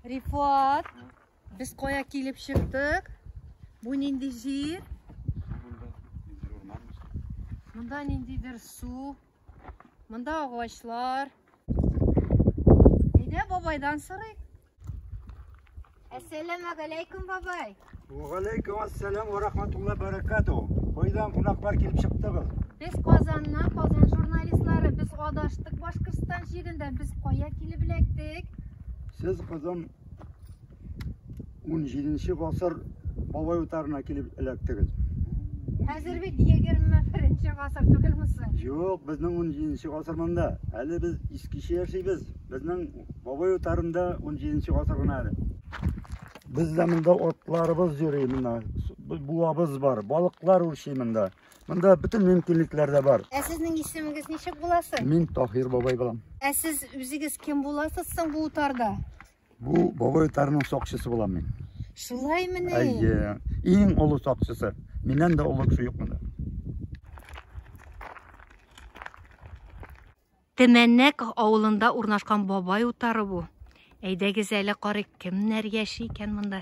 Рифат, без кая килеп чыктык? Бу нинди җир? Монда ниндидер су, Монда агачлар. Әйдә бабайдан сорыйк. Әссәламу алейкум бабай. Ва алейкум ассалам ва рахматулла баракату. Кайдан кунаклар килеп чыктыгыз? Без Казаннан, Казан журналистлары, без адаштык Башкортстан җирендә, без кая килеп эләктек? Сез Казан 17 гасыр бабай утарына килеп эләктегез. Хәзер бит 21 гасыр түгелме соң? Юк, безнең 17 гасыр монда. Әле без искечә яшибез. Безнең бабай утарында 17 гасыр гына әле. Без дә монда атларыбыз йөри монда. Буабыз бар, балыклар үрчи монда. Монда бөтен мөмкинлекләр дә бар. Ә сезнең исемегез ничек буласы? Мин Таһир бабай булам. Ә сез үзегез кем буласыз соң бу утарда? Бу бабай тарының сакчысы булам мин. Шулаймы ни? Әйе. Иң олы сакчысы. Миннән дә олы кеше юк монда. Тәмәннәк авылында урнашкан бабай утары бу. Әйдәгез әле карыйк, кемнәр яши икән монда?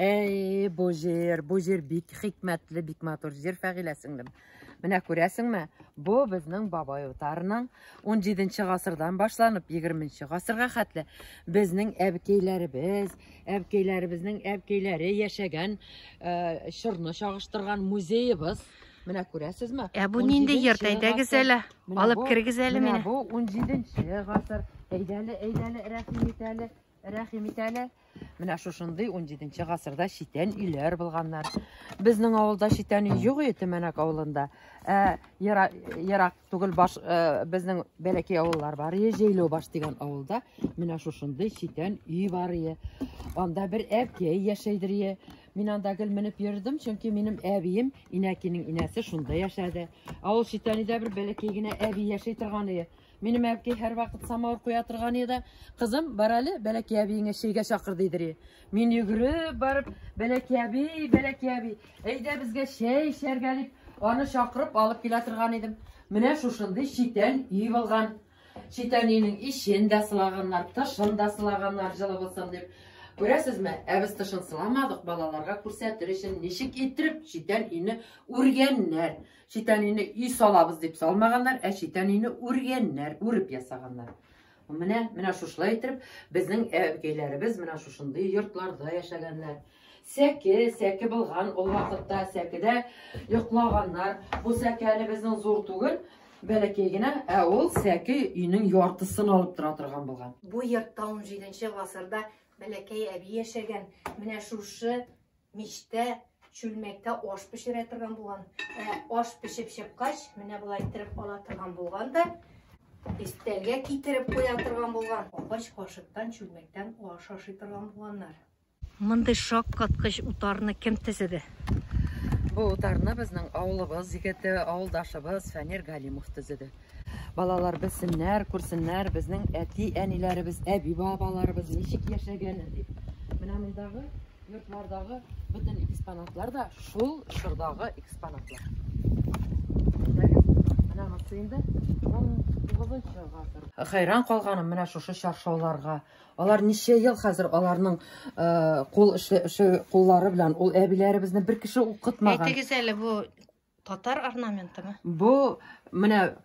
Әй, бу җир, бу җир бик хикмәтле, бик матур җир, Фәгилә сеңлем. Менә күрәсеңме, бу безнең бабай утарының 17 гасырдан башланып 20 гасырга хәтле безнең әбкәйләребез, әбкәйләребезнең әбкәйләре яшәгән э, чорны чагыштырган музеебыз. Менә күрәсезме? Ә бу нинди йорт? Әйдәгез әле, алып кергез әле мине. Бу 17 гасыр. Әйдәле, әйдәле, рәхим ит әле. Рәхим ит әле. Менә шушындый 17 гасырда читән өйләр булганнар. Безнең авылда читән өй юк иде Төмәнәк авылында. Ә ерак түгел баш э, безнең бәләкәй авыллар бар. Җәйләү баш дигән авылда менә шушындый читән өй бар иде. Анда бер әбкәй яшәйдер иде. Мин анда гел менеп йөрдем, чөнки минем әбием, инәкинең инәсе шунда яшәде. Ә ул читәнидә бер бәләкәй генә әби яшәй торган иде. Минем әбки һәрвакыт самавыр куя торган иде. Кызым, бар әле, бәләки әбиеңә чәйгә чакыр дидер. Мин йөгереп барып, бәләки әби, бәләки әби, әйдә безгә чәй эчәргә дип, аны чакырып алып килә торган идем. Менә шушындый читән өй булган. Читән өйнең ишен дә сылаганнар, тышын да сылаганнар, җылы булсын дип. Күрәсезме, ә без тышын сыламадык, балаларга күрсәтер өчен ничек иттереп читән өйне үргәннәр. Читән өйне өй салабыз дип салмаганнар, ә читән өйне үргәннәр, үреп ясаганнар. Менә, менә шушылай итеп, безнең әбкәйләребез менә шушындый йортларда яшәгәннәр. Сәке, сәке булган ул вакытта, сәкедә йоклаганнар. Бу сәке әле безнең зур түгел, бәләкәй генә, ә ул сәке өйнең яртысын алып тора торган булган. Бу йортта 17 нче гасырда бәләкәй әби яшәгән. Менә шушы Мичтә, чүлмәктә аш пешерә торган булган. Ә аш пешеп чыккач, менә болай иттереп ала торган булган да, истәлгә китереп куя торган булган. Агач кашыктан, чүлмәктән аш ашый торган булганнар. Мондый шаккаткыч утарны кем төзеде? Бу утарны безнең авылыбыз егете, авылдашыбыз Фәнир Галимов төзеде. Балалар белсеннәр, күрсеннәр, безнең әти-әниләребез, әби-бабаларыбыз ничек яшәгәнен дип. Менә мондагы Йортлардагы бөтен экспонатлар да шул чордагы экспонатлар. Хәйран калганым менә шушы чаршауларга. Алар ничә ел хәзер аларның э, кул эше, эше куллары белән ул әбиләребезне бер кеше укытмаган. Әйтегез әле бу Татар орнаментымы? Бу менә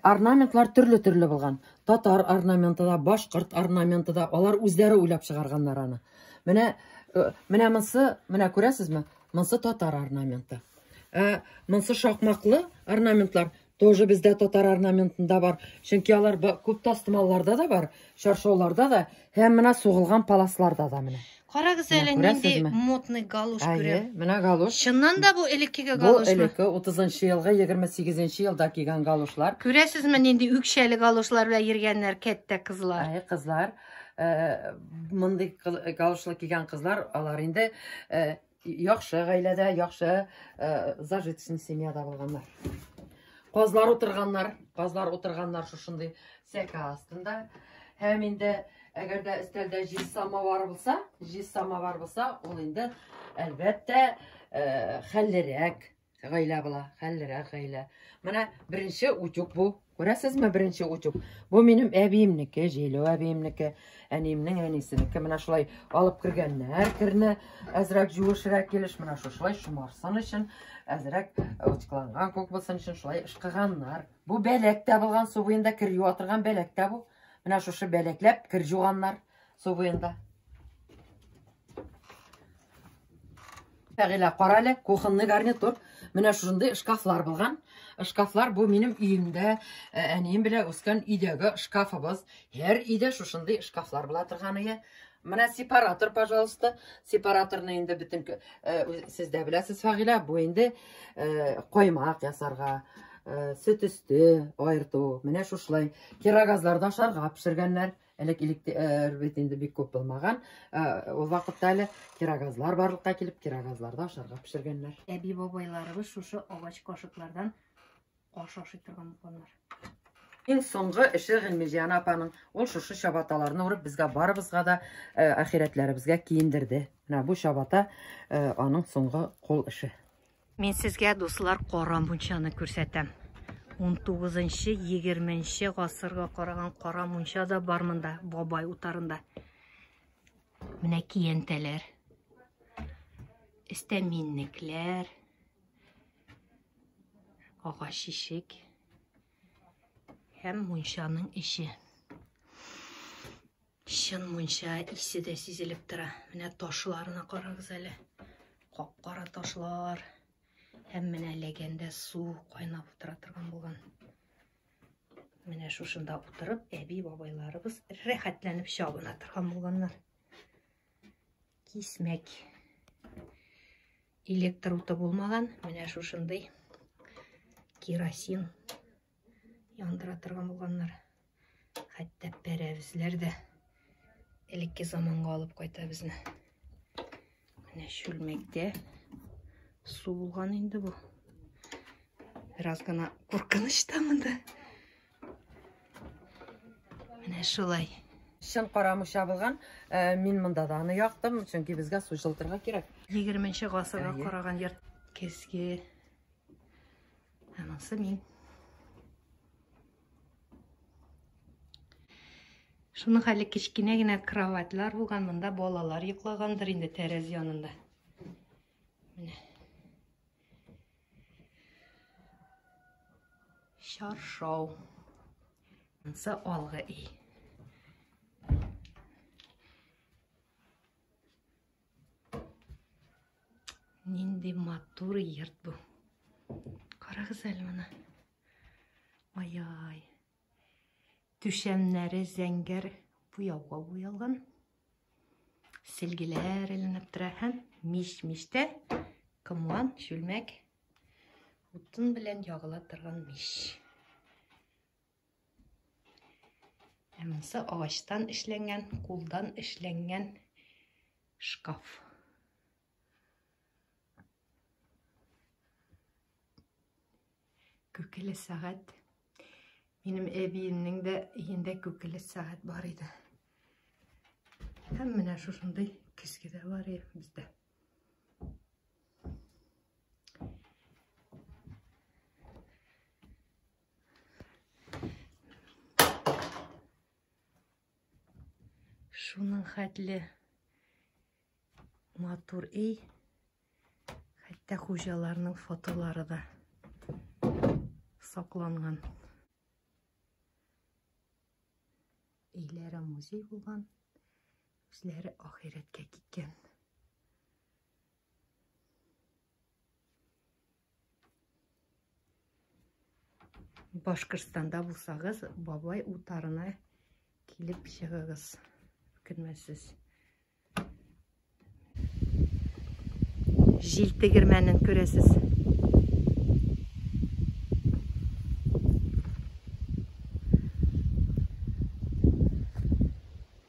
орнаментлар төрле-төрле булган. Татар орнаменты да, башкорт орнаменты да, алар үзләре уйлап чыгарганнар аны. Менә э, менә монсы, менә күрәсезме? Монсы татар орнаменты. Ә монсы шакмаклы орнаментлар, Тоже бездә татар орнаментында бар. Чөнки алар күп тастымалларда да бар, чаршауларда да, һәм менә сугылган паласларда да менә. Карагыз әле нинди модный галуш күрә. Менә галуш. Чыннан да бу элеккеге галуш. Бу элекке 30 елгы 28 елда кигән галушлар. Күрәсезме нинди үкчәле галушлар белән йөргәннәр кәттә кызлар. Әй кызлар. Э, мондый галушлы кигән кызлар алар инде э, яхшы гаиләдә, яхшы э, зажиточный семьяда булганнар. Казлар утырганнар, казлар утырганнар шушындый сәка астында. Һәм инде әгәр дә өстәлдә җиз самовар булса, җиз самовар булса, ул инде әлбәттә э, хәллерәк, Гаилә була, хәллерәк гаилә. Менә беренче утюг бу. Күрәсезме, беренче утюг. Бу минем әбиемнеке, Җәйләү әбиемнеке, әниемнең әнисенеке. Менә шулай алып кергәннәр керне. Әзрәк җуышрак килеш, менә шушылай шомарсын өчен, әзрәк утюгланган күк булсын өчен шулай ышкыганнар. Бу бәләк тә булган, су буенда кер юа торган бәләк тә бу. Менә шушы бәләкләп кер җуганнар. Субыенда. Фәгилә, кара әле, кухонный гарнитур. Менә шушындый шкафлар булган. Шкафлар бу минем өемдә, э, әнием белән үскән өйдәге шкафыбыз. Һәр өйдә шушындый шкафлар була торган ие. Менә сепаратор, пожалуйста. Сепараторны инде бөтен э, сез дә беләсез, Фәгилә, бу инде э, коймак ясарга, сөт өсте айырту. Менә шушылай кирогазларда ашарга пешергәннәр. Элек электр бит инде бик күп булмаган. Ул вакытта әле кирогазлар барлыкка килеп, кирогазларда ашарга пешергәннәр. Әби бабайларыбыз шушы агач кашыклардан аш ашый торган булганнар. Иң соңгы эше Гыйлмиҗан апаның ул шушы чабаталарны урып безгә барыбызга да ахирәтләребезгә киендерде. Менә бу чабата аның соңгы кул эше. Мин сезгә, дуслар, кара мунчаны күрсәтәм. 19-20 гасырга караган кара мунча да бар монда, бабай утарында. Менә киянтәләр. Истә миннекләр. Агач ишек. Һәм мунчаның ише. Чын мунча исе дә сизелеп тора. Менә ташларына карагыз әле. Кап-кара ташлар. Һәм менә ләгәндә су кайнап утыра торган булган. Менә шушында утырып, әби бабайларыбыз рәхәтләнеп чабына торган булганнар. Кисмәк. Электр уты булмаган, менә шушындый керосин яндыра торган булганнар. Хәтта пәрәвезләр дә элекке заманга алып кайта безне. Менә чүлмәктә су булган инде бу. Бераз гына куркыныч та монда. Менә шулай. Чын кара муша булган. Э, мин монда да аны яктым, чөнки безгә су җылтырга кирәк. 20 нче гасырга караган йорт. Кеске Анысы мин. Шуның хәле кечкенә генә кроватьлар булган, монда балалар йоклагандыр инде тәрәз янында. Менә. Шаршау. Ансы алгы ий. Нинди матур йорт бу. Карагыз әле моны. Ай-ай. Түшәмнәре зәңгәр буяуга буялган. Селгеләр эленеп тора һәм мич-мичтә комлан, чүлмәк, утын белән ягыла торган мич. Ә монысы агачтан эшләнгән, кулдан эшләнгән шкаф. Күкеле сәгать. Минем әбиемнең дә өендә күкеле сәгать бар иде. Һәм менә шушындый көзге дә бар иде бездә. Шуның хәтле матур эй. Хәтта хуҗаларның фотолары да сакланган. Өйләре музей булган, үзләре ахирәткә киткән. Башкортстанда булсагыз, бабай утарына килеп чыгыгыз. Үкенмәсез. Җил тегермәнен күрәсез.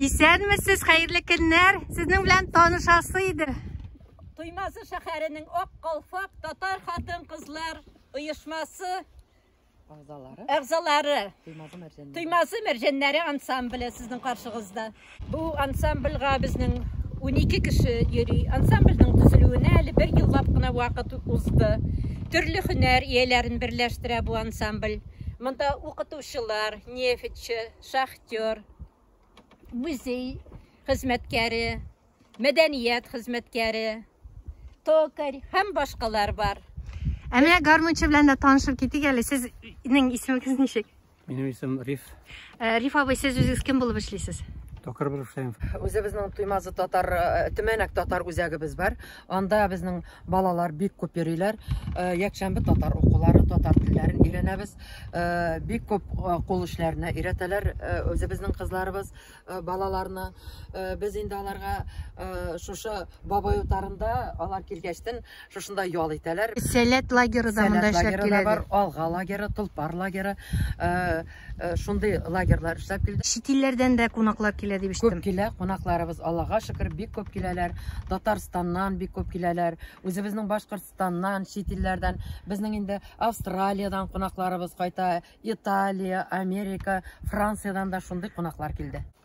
Исәнмесез, хәерле көннәр. Сезнең белән танышасы иде. Туймазы шәһәренең Ак калфак татар хатын-кызлар оешмасы Агзалары. Әгъзалары. Туймазы мәрҗәннәре. Туймазы мәрҗәннәре ансамбле сезнең каршыгызда. Бу ансамбльга безнең 12 кеше йөри. Ансамбльнең төзелүенә әле бер еллап кына вакыт узды. Төрле һөнәр ияләрен берләштерә бу ансамбль. Монда укытучылар, нефтьче, шахтер, музей хезмәткәре, мәдәният хезмәткәре, токарь һәм башкалар бар. Ә менә гармунчы белән дә танышып китик әле. Сезнең исемегез ничек? Минем исем Риф. Э, Риф абый, сез үзегез кем булып эшлисез? Токар булып эшләйм. Үзебезнең Туймазы татар, э, Төмәнәк татар үзәгебез бар. Анда безнең Балалар бик күп йөриләр. Э, якшәмбе татар укулары, татар телләрен өйрәнәбез. Э, бик күп э, кул эшләренә өйрәтәләр үзебезнең кызларыбыз балаларны. Без инде аларга шушы бабай утарында алар килгәчтен шушында ял итәләр. Сәләт лагеры да монда эшләп киләләр. Алга лагеры, Тулпар лагеры. Э, шундый лагерьлар эшләп килде. Чит илләрдән дә кунаклар килә дип ишеттем. Күп килә кунакларыбыз, Аллага шөкер, бик күп киләләр. Татарстаннан бик күп киләләр. Үзебезнең Башкортстаннан, чит илләрдән, безнең инде Австралиядән кунакларыбыз кайта, Италия, Америка, Франциядән дә шундый кунаклар килде.